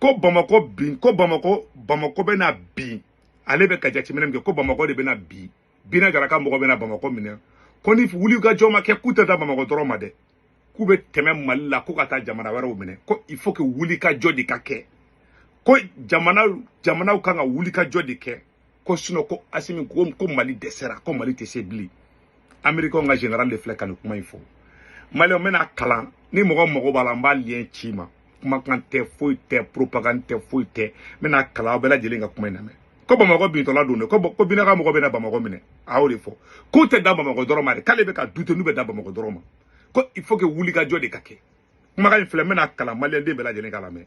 ko bamakɔ bin ko bamakɔ bamakɔ bɛna bin ale bɛ ka jateminɛ min kɛ ko bamakɔ de bɛna bin bina jara ka mɔgɔ bɛna bamakɔ minɛ ko ni wulikajɔ ma kɛ k'u tɛ dan bamakɔ dɔrɔn ma dɛ k'u bɛ tɛmɛ mali la ko ka taa jamana wɛrɛw minɛ ko il faut que wulikajɔ de ka kɛ ko jamana jamanaw kan ka wulikajɔ de kɛ ko sinɔn ko asimi ko ko mali dɛsɛra ko mali tɛ se bilen amerikɛnw ka général de filɛ ka nin kuma in fɔ maliyɛn n bɛna kalan ni mɔgɔ mago b'a la n b'a lien ci i ma kumakan tɛ foyi tɛ propagande tɛ foyi tɛ n bɛna kalan aw bɛɛ lajɛlen ka kuma in lamɛn ko bamakɔ bintɔla don dɛ ko ko bina ka mɔgɔ bɛna bamakɔ minɛ a y'o de fɔ k'u tɛ dan bamakɔ dɔrɔn ma dɛ k'ale bɛ ka douter n'u bɛ dan bamakɔ dɔrɔn ma ko il faut que wulikajɔ de ka kɛ kumakan in filɛ n bɛna kalan maliyɛnden bɛɛ lajɛlen ka lamɛn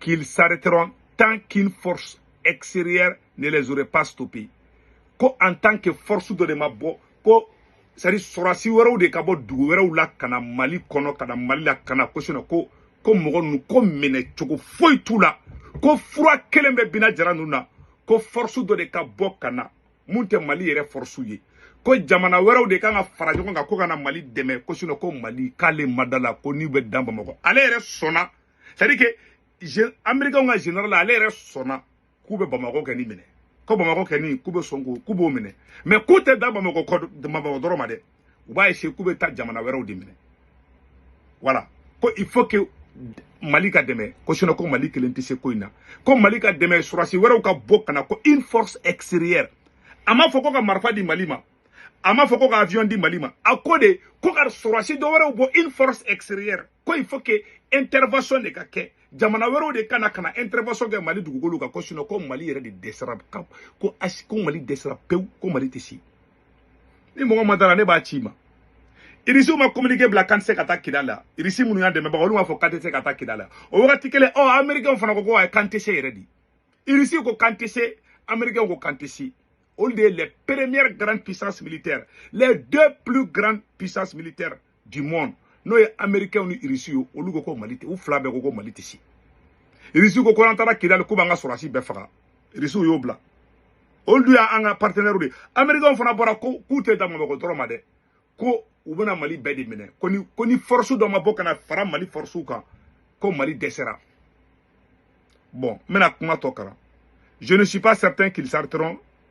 qu'ils s'arrêteront tant qu'une force extérieure ne les aurait pas stoppés ko en tant que force dɔ de ma bɔ ko sari sɔrɔdasi wɛrɛw de ka bɔ dugu wɛrɛw la ka na mali kɔnɔ ka na mali la ka na ko sinɔn ko mɔgɔ ninnu ko minɛ cogo foyi t'u la ko fura kelen bɛ bina jara ninnu na ko force dɔ de ka bɔ ka na min tɛ mali yɛrɛ fɔrɔsiw ye ko jamana wɛrɛw de kan ka fara ɲɔgɔn kan ko ka na mali dɛmɛ ko sinɔn ko mali k'ale ma d'a la ko n'u bɛ dan bamakɔ ale yɛrɛ sɔnna c'est à dire que américainw ka général ale yɛrɛ sɔnna k'u bɛ bamakɔ kɔni minɛ ko bamakɔ kɔni k'u bɛ sɔn k'u b'o minɛ mais k'u tɛ dan bamakɔ kɔ bamakɔ dɔrɔn ma dɛ u b'a essayer k'u bɛ taa jamana wɛrɛw de minɛ voilà ko il faut que mali ka dɛmɛ ko sinɔn ko mali kelen tɛ se ko in na ko mali ka dɛmɛ sɔrɔdasi wɛrɛw ka bɔ ka na ko une force extérieure a m'a fɔ ko ka marifa di mali ma a m'a fɔ ko ka avion di mali ma a ko de ko ka sɔrɔdasi dɔ wɛrɛw bɔ une force extérieure ko il faut que intervention de ka kɛ jamana wɛrɛw de ka na ka na intervention kɛ mali dugukolo kan ko sinɔn ko mali yɛrɛ de dɛsɛra ko ko mali dɛsɛra pewu ko mali tɛ se ni mɔgɔ ma d'a la ne b'a ci i ma irisiw ma communiqué bila k'an tɛ se ka taa kidal la irisi minnu y'an dɛmɛbaga olu m'a fɔ k'an tɛ se ka taa kidal la o wagati kelen ɔ américain fana ko ko ayi k'an tɛ se yɛrɛ dɛ irisiw ko k'an tɛ se américainw ko k'an tɛ se olu de ye les premières grandes puissances militaires les deux plus grandes puissances militaires du monde n'o ye americains ni irisi ye olu ko ko mali tɛ u fila bɛɛ ko ko mali tɛ se irisi ko ko an taara kidali k'u b'an ka sɔrɔdasi bɛɛ faga irisiw y'o bila olu dun y'an ka partenaires de ye americains fana bɔra ko k'u tɛ dan bamakɔ dɔrɔn ma dɛ ko u bɛna mali bɛɛ de minɛ ko ni ko ni force dɔ ma bɔ ka na fara mali forcew kan ko mali dɛsɛra bon n bɛna kuma tɔ kalan je ne suis pas certain qu'ils s'arrêteront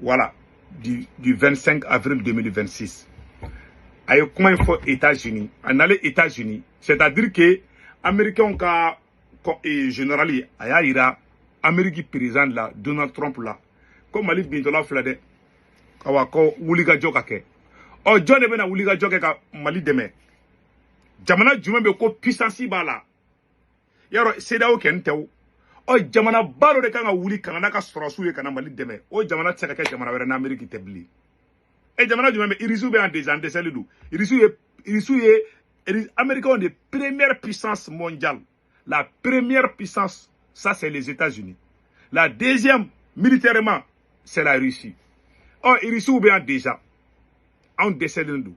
voilà du, du 25 avril 2026 a ye kuma in fɔ États-Unis a nalen États-Unis c'est-à-dire que américainw ka eh, générali a y'a yira Amérique président la Donald Trump la ko Mali bintɔla filɛ dɛ awa ko wulikajɔ ka kɛ ɔ jɔn de bɛna wulikajɔ kɛ ka Mali dɛmɛ jamana jumɛn bɛ ko puissance b'a la yɔrɔ CEDEAO kɛni tɛ o ɔ jamana ba dɔ de kan ka wuli ka na n'a ka sɔrɔsiw ye ka na mali dɛmɛ o jamana tɛ se ka kɛ jamana wɛrɛ n'ameriki tɛ bilen e jamana jumɛn bɛ irisiw bɛ yan déjà an dɛsɛlen don irisiw ye irisiw ye américains de première puissance mondiale la première puissance ça c'est les États-Unis la deuxième militairement c'est la Russie ɔ irisiw bɛ yan déjà anw dɛsɛlen don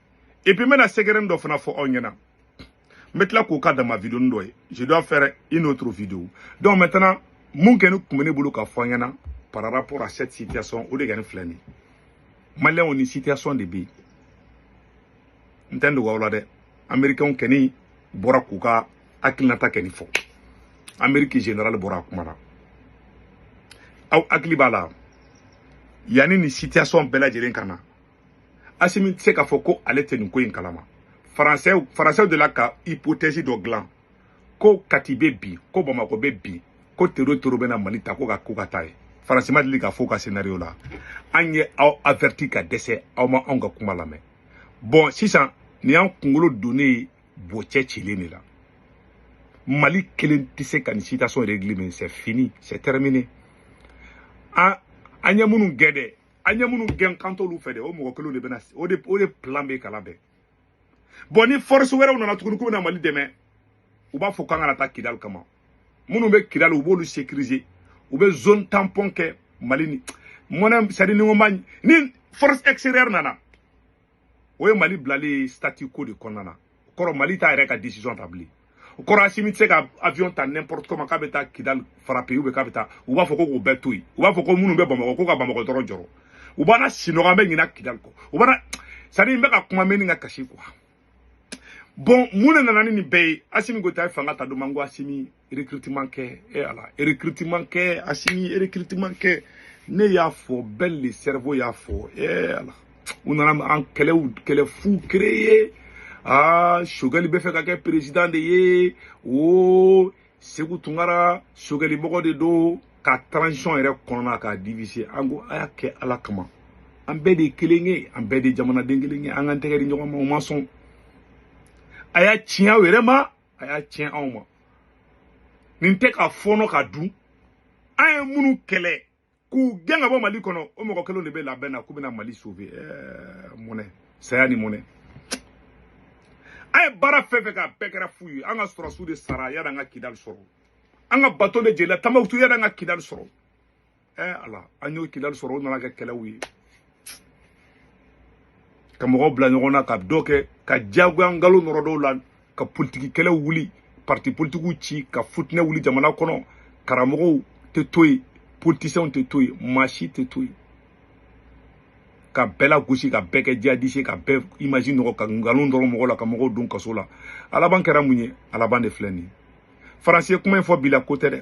et puis n bɛna sɛgɛrɛnin dɔ fana fɔ aw ɲɛna n bɛ tila k'o ka dama videonin dɔ ye je dois faire une autre vidéo donc maintenant mun kɛni tun bɛ ne bolo ka fɔ aw ɲɛna par rapport à cette situation o de kɛni filɛ nin ye maliyɛnw nin situation de bɛ yen n tɛ n dogo aw la dɛ amerikɛnw kɛni bɔra k'u ka hakilinata kɛni fɔ ameriki general bɔra a kumana aw hakili b'a la yanni nin situation bɛɛ lajɛlen ka na asimi tɛ se k'a fɔ ko ale tɛ nin ko in kalama faransɛw faransɛw de la ka hypothèse dɔ dilan ko kati bɛ bin ko bamakɔ bɛ bin ko tero tero bɛna mali ta ko ka ko ka taa ye faransi ma deli ka fɔ ka scénario la an ye aw averti ka dɛsɛ aw ma anw ka kuma lamɛn bɔn sisan nin y'an kunkolo donnen ye bocɛ cilen de la mali kelen tɛ se ka nin situation régler mais c'est fini c'est terminé an an ye minnu gɛn dɛ an ye minnu gɛn k'an t'olu fɛ dɛ o mɔgɔ kelenw de bɛna o de o de plan bɛ ka labɛn bɔn ni force wɛrɛw nana tuguni k'u bɛna mali dɛmɛ u b'a fɔ k'an kana taa kidali kama minnu bɛ kidali u b'olu sécuriser u bɛ zone tampon kɛ mali ni mɔnɛ sadi ni ko ma ni force extérieure nana o ye mali bilalen ye statu quo de kɔnɔna na o kɔrɔ mali t'a yɛrɛ ka decision ta bilen o kɔrɔ asimi tɛ se ka avion ta n'importe comment k'a bɛ taa kidal frapper ou bien k'a bɛ taa u b'a fɔ ko k'o bɛɛ to yen u b'a fɔ ko minnu bɛ bamakɔ ko ka bamakɔ dɔrɔn jɔrɔ u b'an lasinɔgɔ an bɛ ɲina kidal kɔ u b'an sani n bɛ ka kuma mais ni ka kasi quoi bɔn mun de nana ni nin bɛɛ ye asimi goyita ye fanga ta don min an ko asimi recrutement kɛ e eh, ala recrutement kɛ asimi recrutement kɛ ne y'a fɔ Ben le cerveau y'a fɔ e eh, ala u nana kɛlɛ fu créer aa ah, sogɛli bɛ fɛ ka kɛ président de ye o seku tunkara sogɛli mɔgɔ de don ka transition yɛrɛ kɔnɔna k'a diviser an ko a y'a kɛ ala kama an bɛɛ de ye kelen ye an bɛɛ de ye jamanaden kelen ye an k'an tɛgɛ di ɲɔgɔn ma aw ma sɔn a y'a tiɲɛ aw yɛrɛ ma a y'a tiɲɛ anw ma nin tɛ k'a fɔɔnɔ k'a dun an ye minnu kɛlɛ k'u gɛn ka bɔ mali kɔnɔ o mɔgɔ kelenw de bɛ labɛn na k'u bɛna mali sauver eh, mɔnɛ saya ni mɔnɛ an ye baara fɛn fɛn kɛ a bɛɛ kɛra fu ye an ka sɔrɔsiw de sara yanni an ka kidali sɔrɔ an ka bateau de jenina tɔnbukutu yanni an ka kidali sɔrɔ ɛɛ ala an y'o kidali sɔrɔ o nana kɛ kɛlɛw ye ka mɔgɔw bila ɲɔgɔn na ka dɔ kɛ ka diyagoya nkalon nɔrɔ dɔw la ka politiki kɛlɛw wuli parti politikiw ci ka fitinɛ wuli jamana kɔnɔ karamɔgɔw tɛ to yen politisiyɛnw tɛ to yen maa si tɛ to yen ka bɛɛ lagosi ka bɛɛ kɛ jihadisi ye ka bɛɛ image nɔgɔ ka nkalon nɔrɔ mɔgɔ la ka mɔgɔw don kaso la a laban kɛra mun ye a laban de filɛ nin ye faransi ye kuma in fɔ bi la ko tɛ dɛ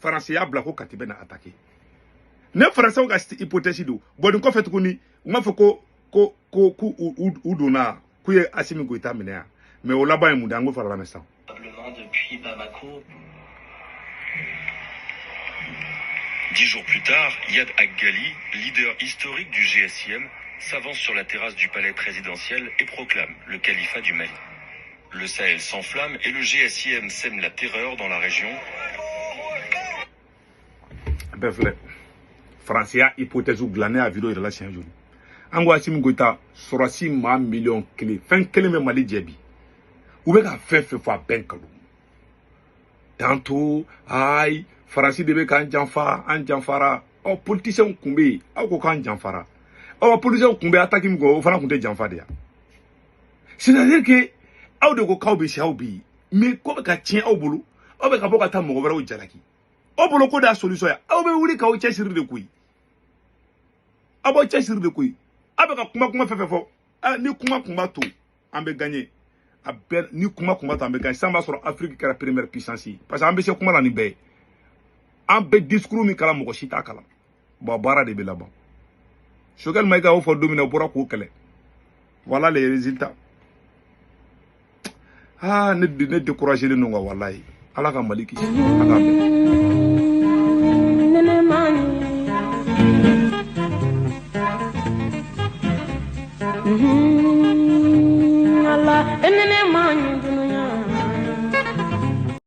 faransi y'a bila ko kati bɛ na atake ne faransɛw ka hypothèse dɔ bɔlen kɔfɛ tuguni u m'a fɔ ko ko ko k'u u donna k'u ye asimi goyita minɛ yan mais o laban ye mun de an k'o fana lamɛn sisan depuis Bamako. Dix jours plus tard, Iyad Ag Ghali, leader historique du GSIM, s'avance sur la terrasse du palais présidentiel et proclame le califat du Mali. Le Sahel s'enflamme et le GSIM sème la terreur dans la région. bɛɛ filɛ faransi y'a hypothèse dilannen a video yɛrɛ la siɲɛ joli an ko asimi goyita sɔrɔdasi maa miliyɔn kelen fɛn kelen bɛ mali jɛ bi u bɛ ka fɛn fɛn fɔ a bɛɛ nkalon tantôt ayi faransi de bɛ k'an janfa an janfara ɔ politisiyɛnw tun bɛ yen aw ko k'an janfara ɔ politisiyɛnw tun bɛ ataki min kɛ o fana tun tɛ janfa de ya c'est à dire que aw de ko k'aw bɛ se aw bɛ yen mais ko bɛ ka tiɲɛ aw bolo aw bɛ ka bɔ ka taa mɔgɔ wɛrɛw jalaki aw bolo ko d'a solution ye aw bɛ wuli k'aw cɛsiri de koyi aw b'aw cɛsiri de koyi aw bɛ ka kuma kuma fɛn fɛn fɔ ah, ni kuma kun b'a to an bɛ gagner a bɛɛ ni kuma kun b'a to an bɛ gagner sisan b'a sɔrɔ Afrique kɛra première puissance ye parce que an bɛ se kuma na ni bɛɛ ye an bɛ discours min kalan mɔgɔ si t'a kalan bon baara de bɛ laban sogɛli mayiga y'o fɔ don min na o bɔra k'o kɛlɛ voilà les résultats aa ne ne découragé len don quoi walayi ala ka mali kisi ala ka